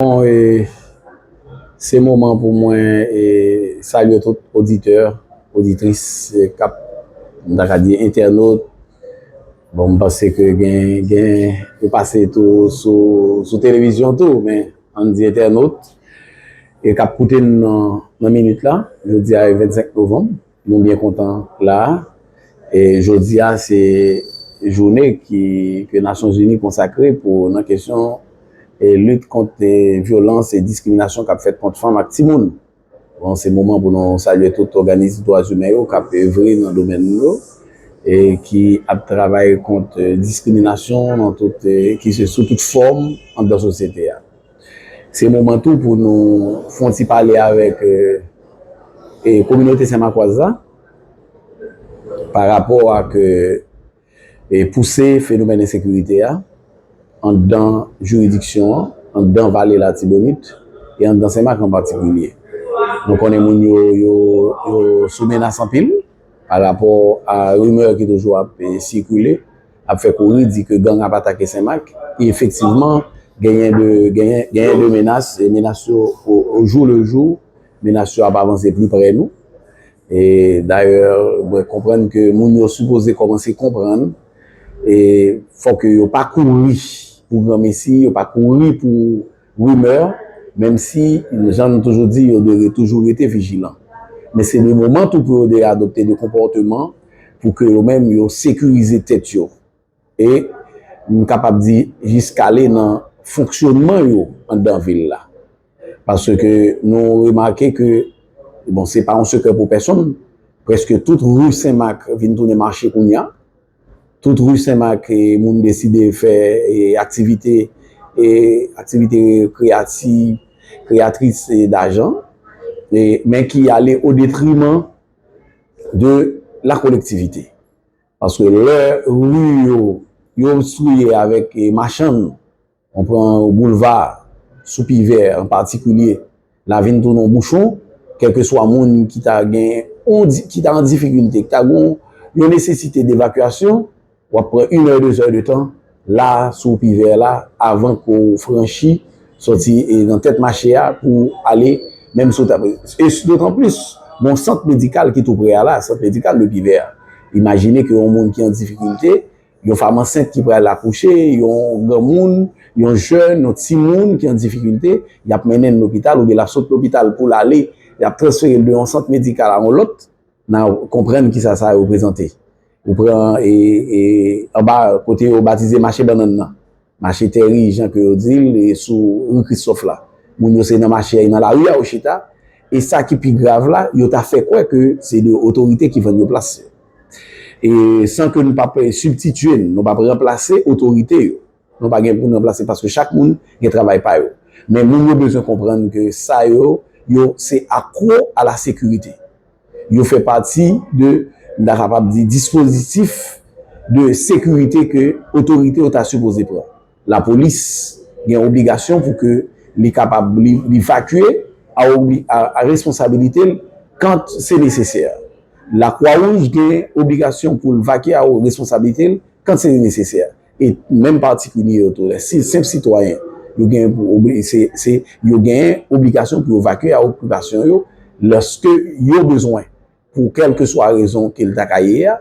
Bon e se moman pou mwen e salye tout oditè, oditris kap m ta ka di entènot. Bon m panse ke gen gen yo pase tou sou sou televizyon tou men an n di entènot e kap koute m nan minit la. Jodi a e 25 novanm Nou byen kontan la e jodi a se joune ke Nasyon Zini konsakre pou nan kesyon lit kont vyolans e diskriminasyon kap fèt kont fanm ak timoun. Bon se moman pou nou salye tout òganis dwazimen yo kap evre nan domèn nou yo e ki ap travay kont diskriminasyon nan tout ki se sou tout fòm anndan sosyete a. Se moman tou pou nou fon ti pale avèk kominote senmakwaz la pa rapò ak pouse fenomèn ensekirite a anndan jiridiksyon an, anndan vale latibonit e anndan senmak an patikilye. Nou konnen moun yo yo sou menas anpil pa rapò a rimè ki toujou ap sikile. ap fè kouri di ke gang ap atake Senmak e efektivman genyen de genyen de menas e menas yo o jou le jou menas yo ap avanse pli pre nou e dayè mwen konprann ke moun yo sipoze kòmanse konprann e fòk yo pa kouri pou granmesi yo pa kouri pou Rimè, menm si, jan nou toujou di, yo dwe toujou rete vijilan. Men se le moman tou pou yo de adopte de konpòteman pou ke yo menm yo sekirize tèt yo. E, m kapab di, jiskale nan fonksyonman yo anndan vil la. Paske nou remake ke, bon se pa yon sekrè pou pèsonn, prèske tout ri Senmak vin tounen mache kounya. Tout Rue Sen Mak moun deside fè aktivite aktivite kreyati kreyatris dajan men ki ale o detriman de la kolektivite paske lè rue yo yo obstriye avèk machann On pran yon boulva sou pi vè an patikilye, la vin tounen yon bouchon, kèlkeswa moun ki ta gen yon, ki ta an difikilte, ki ta gen yon nesesite devakyasyon, w ap pran inè, dezè de tan la sou pi vè la avan ke w franchi, sòti nan tèt mache a pou w ale menm si w ta, e dotanplis gon sant medikal ki tou pre a la, sant medikal de pi vè a. Imajine ke yon moun ki an difikilte Yon fam ansent ki pral akouche, yon granmoun, yon jèn, yon timoun ki an difikilte, y ap mennen l lopital oubyen l ap sot lopital pou l ale, y ap transfere l de yon sant medikal a yon lòt, n a konprann kisa sa reprezante. Ou pran anba kote yo batize mache bannann nan, Mache Tèri jan ke yo di l e sou Ri Kristòf la. Moun yo se nan mache a nan lari a yo chita e sa ki pi grav la yo ta fè kwè ke se de otorite ki vann yo plas yo. E san ke nou pa p sibtitye n, nou pa p ranplase otorite yo. Nou pa gen pou n ranplase paske chak moun gen travay pa yo. Men moun yo bezwen konprann ke sa yo yo se akwo a la sekirite. Yo fè pati de, m ta kapab di, dispozitif de sekirite ke otorite yo ta sipoze pran. Lapolis gen obligasyon pou ke li kapab li vakye a responsabilite l kant se nesesè. Lakwa wouj gen obligasyon pou l vakye a responsabilite l kant se nesesè. E menm patikilye yo tou, lè si senp sitwayen, yo genyen pou obeyi, se, se, yo genyen obligasyon pou yo vakye a okipasyon yo lòske yo bezwen pou kèlkeswa rezon ke l ta ka ye a,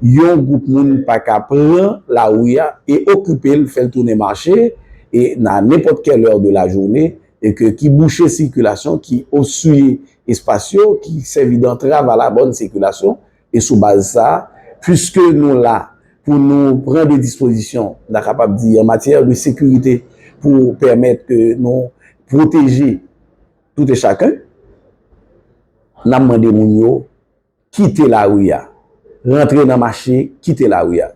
yon gwoup moun pa ka pran lari a e okipe l, fè l tounen mache e nan nenpòt kèl èr de lajoune e ke ki bouche sikilasyon, ki obsye espas yo, ki sèvi dantrav a labòn sikilasyon. E sou baz sa, puiske nou la pou nou pran de dispozisyon, n a kapab di an matyè de sekirite pou pèmèt ke nou pwoteje tout e chaken, n ap mande moun yo kite lari a, rantre nan mache, kite lari a.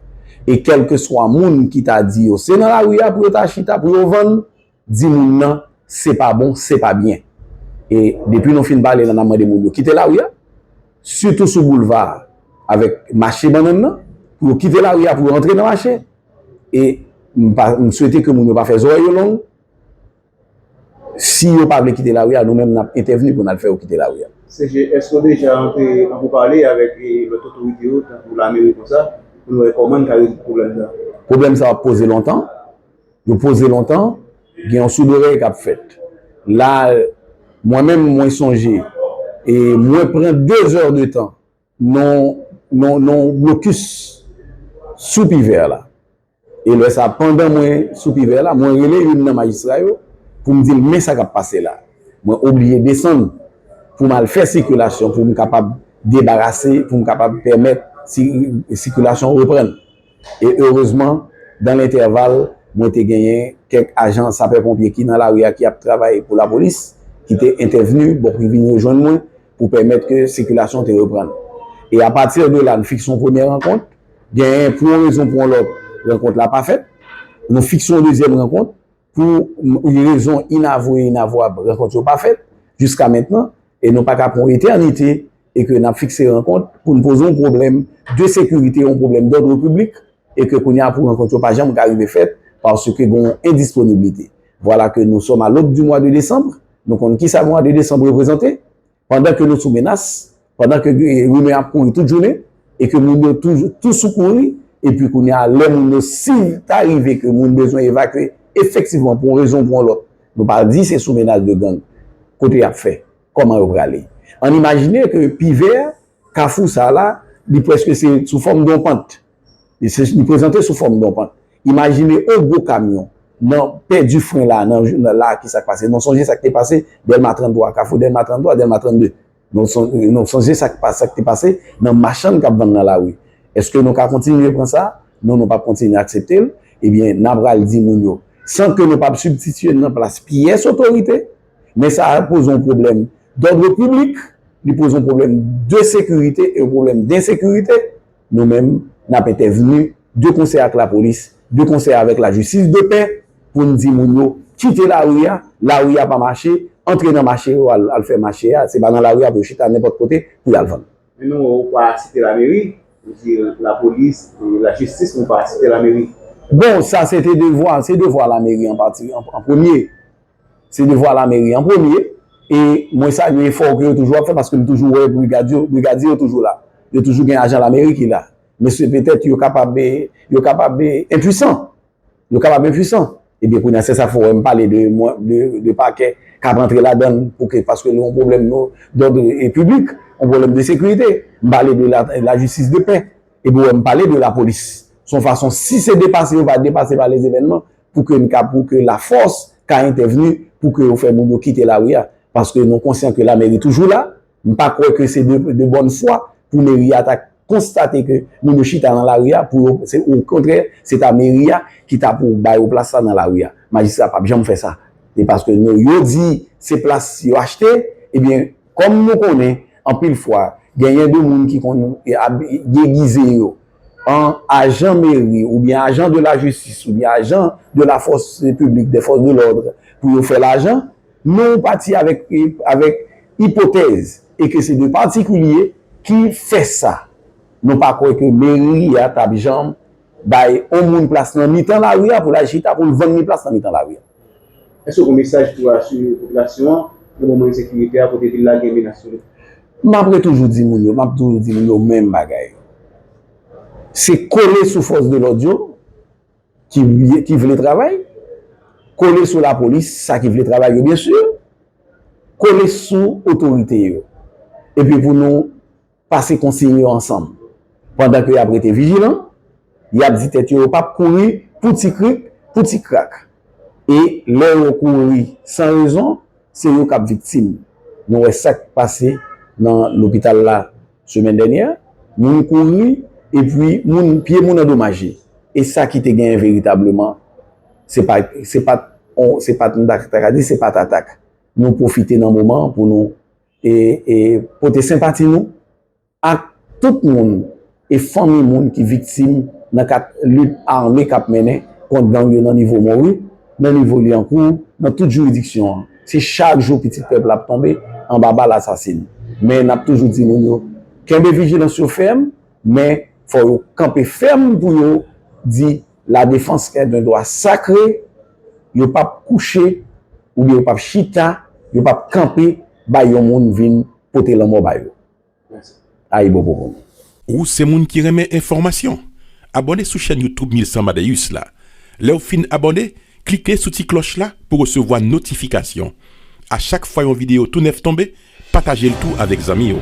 E kèlkeswa moun ki ta di yo se nan lari a pou yo ta chita, pou yo vann, Di moun nan se pa bon, se pa byen. E depi nou fin pale la n ap mande moun yo kite lari a, sitou sou boulva a avèk mache bannann nan, pou yo kite lari a pou yo antre nan mache. E m pa, m swete ke moun yo pa fè zorèy yo long. Si yo pa vle kite lari a, nou menm n ap entèvni pou n al fè yo kite lari a. CG, èske ou deja antre an poupale avèk lòt otorite yo, tankou lameri konsa, pou nou wè kòman n ka rezoud pwoblèm sa a? Pwoblèm sa a ap poze lontan. Yo poze lontan, gen yon souderèy k ap fèt. La, mwen menm, mwen sonje, e mwen pran de zè de tan nan yon blokis sou Pivè la. E lè sa, pandan mwen sou Pivè la, mwen rele youn nan majistra yo pou m di l men sa k ap pase la. Mwen oblije desann pou m al fè sikilasyon pou m kapab debarase, pou m kapab pèmèt sikilasyon reprann. E erezman, dan lentèval, mwen te genyen kèk ajan sapè-ponpye ki nan lari a ki ap travay pou lapolis ki te entèvni bon ki vin rejwenn mwen pou pèmèt ke sikilasyon te reprann. E apati de la, nou fikse yon premye rankont, genyen pou yon rezon pou yon lòt, rankont la pa fèt. Nou fikse yon dezyèm rankont. Pou yon rezon inavwe inavwab, rankont yo pa fèt jiska mentnan e nou pa ka pran yon etènite e ke n ap fikse rankont pou n poze yon pwoblèm de sekirite, yon pwoblèm dòdre piblik e ke kounye a pou rankont yo pa janm ka rive fèt paske gen yon endisponiblite. Vwala ke nou sòm a lod di mwa de desanm, nou konn kisa mwa de desanm reprezante, Pandan ke nou sou menas, pandan ke rimè ap kouri tout jounen, e ke moun yo toujou tou sou kouri, e pi kounye a lè moun yo si ta rive ke moun bezwen evakye, efektivman pou yon rezon ou pou yon lòt, nou pa di se sou menas de gang, kote y ap fè? Kòman yo prale? Ann imajine ke Pivè, kafou sa la, li prèske se sou fòm de yon pant. Li prezante sou fòm don pant. Imajine on gwo kamyon nan pèdi fren la nan la ki sak pase. Non sonje sak te pase Dèlma 33, kafou Dèlma 33, Dèlma 32. Non sonje sak te pase nan machann kap vann nan lari. Eske nou ka kontinye pran sa? Non nou pap kontinye aksepte l. Ebyen nan pral di moun yo san ke nou pap sibtitye nan plas pyès otorite. Men sa poze yon pwoblèm dòdre piblik, li poze yon pwoblèm de sekirite e yon pwoblèm densekirite. Nou menm, n ap entèvni de konsè ak lapolis, de konsè avèk lajistis de pè pou n di moun yo kite lari a, lari a pa mache, antre nan mache yo al fè mache a, se pa nan lari a pou yo chita nenpòt kote pou y al vann. Men nou wè ou pa site lameri, ou di lapolis, lajistis men ou pa site lameri. Bon, sa se te devwa, se devwa lameri an pati, an premye. Se devwa lameri an premye e mwen salye efò ou ke yo toujou ap fè paske m toujou wè brigad yo, brigadye yo toujou la. Yo toujou gen ajan lameri ki la. Mesye petèt yo kapab e, yo kapab e enpuisan. Yo kapab enpuisan. Ebyen kounye a se sa fè w wè m pale de mwen, de, de pakè k ap antre ladann pou ke, paske nou gen yon pwoblèm nou, dòd e piblik, yon pwoblèm de sekirite. M pale de la, lajistis de pè. Epi ou wè m pale de lapolis. S on fason si se depase yo va depase pa lèzevènman. pou ke n ka pou ke lafòs ka entèvni pou ke yo fè moun yo kite lari a. Paske nou konsyan ke lameri toujou la. M pa kwè ke se de bòn fwa pou meri a ta konstate ke moun yo chita nan lari a pou yo, se o kontrè, se ta meri a ki ta pou ba yo plas la nan lari a. Majistra pap janm fè sa. Se paske nou yo di se plas yo achte, ebyen kòm nou konnen anpil fwa genyen de moun ki konn degize yo. an ajan meri oubyen ajan de la jistis oubyen ajan de la fòs piblik dè fòs de lòd pou yo fè lajan nou pati avèk avèk ipotèz e ke se de patikilye ki fè sa nou pa kwè ke meri a tap janm bay on moun plas nan mitan lari a pou l al chita pou l vann li plas nan mitan lari a. Èske w gen mesaj pou asire popilasyon an nan moman ensekirite a kote vil la gen menas sou li? M apre toujou di moun yo, m ap toujou di moun yo menm bagay. Se kole sou fòs de lòd yo ki vle travay, kole sou lapolis sa ki vle travay yo byensi, kole sou otorite yo epi pou nou pase konsiy yo ansanm. Pandan ke y ap rete vijilan, y ap di tèt yo yo p ap kouri pou ti krik, pou ti krak. E lè yo kouri san rezon, se yo k ap viktim. Nou wè sa k pase nan lopital la semèn dènyè, moun kouri epi moun, pye moun andomaje. E sa ki te genyen veritableman, se pa, se pa t, se pa t, m ta ka di se pa t atak. Nou pwofite nan moman an pou nou. e pote senpati nou ak tout moun e fanmi moun ki viktim nan kad lit ame k ap mennen kont gang yo nan nivo Monwi, nan nivo Lyankou, nan tout jiridiksyon an. Se chak jou pitit pèp la ap tonbe anba bal asasin. Men n ap toujou di moun yo, kenbe vijilans yo fèm, men fò yo kanpe fèm pou yo di La defans est un dwa sakre, yo pap kouche oubyen yo pap chita, yo pap kanpe bay yon moun vin pote lanmò ba yo. Ayibobo pou nou. Ou se moun ki renmen enfòmasyon? Abòne sou chèn YouTube 1100 Amadeus la. Lèw fin abòne, klike sou ti klòch la pou resevwa notifikasyon. A chak fwa yon videyo tou nèf tonbe, patajel tou avèk zanmiw.